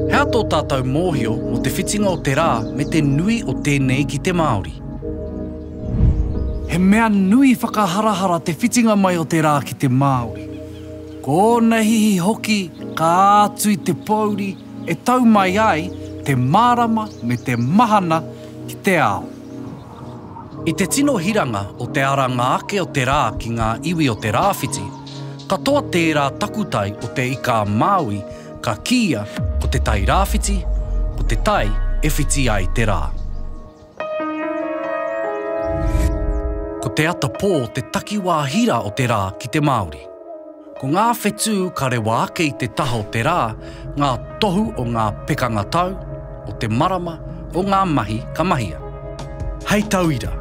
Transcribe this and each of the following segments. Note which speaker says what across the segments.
Speaker 1: Hea tō tātou mōhio mō te whitinga o te rā me te nui o tēnei ki te Māori? He mea nui whakaharahara te whitinga mai o te rā ki te Māori. Ko ōna hihi hoki ka ātu i te pōuri e tau mai ai te mārama me te mahana ki te ao. I te tino hiranga o te aranga ake o te rā ki ngā iwi o te rāwhiti, katoa tērā takutai o te Ika-a-Māui ka kīia ko te tai rāwhiti, ko te tai e whiti ai te rā. Ko te ata pō te takiwā hira o te rā ki te Māori. Ko ngā whetū ka rewa ake i te taha o te rā, ngā tohu o ngā pekanga tau, o te marama, o ngā mahi ka mahia. Hei tauira,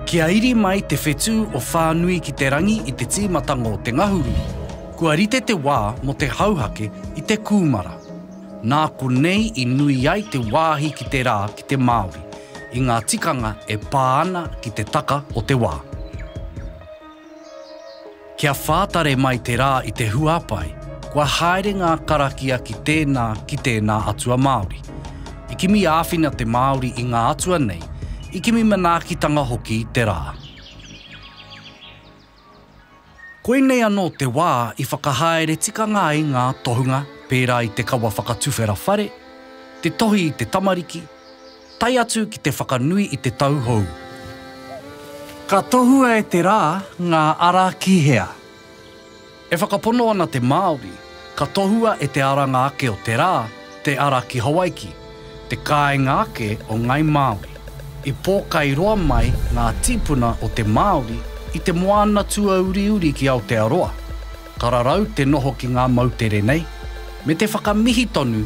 Speaker 1: kia iri mai te whetū o Whānui ki te Rangi i te tīmatanga o te ngahuru, kua rite te wā mō te hauhake i te kūmara. Nā konei i nui ai te wāhi ki te rā ki te Māori, i ngā tikanga e pā ana ki te taka o te wā. Kia whātare mai te rā i te huapae, kua haere ngā karakia ki tēnā, ki tēnā atua Māori. I kimi āwhina te Māori i ngā atua nei, i kimi manaakitanga hoki te rā. Koinei anō te wā i whakahaere tikanga ai ngā tohunga pērā i te kawa whakatuwhera whare, te tohi i te tamariki, tae atu ki te whakanui i te tau hou. Ka tohua e te rā ngā ara ki hea? E whakapono ana te Māori. Ka tohua e te aranga ake o te rā te ara ki Hawaiki, te kāinga ake o Ngāi Māori. I pōkai roa mai ngā tīpuna o te Māori i te moana tuauriuri ki Aotearoa, ka rarau te noho ki ngā moutere nei, me te whakamihi tonu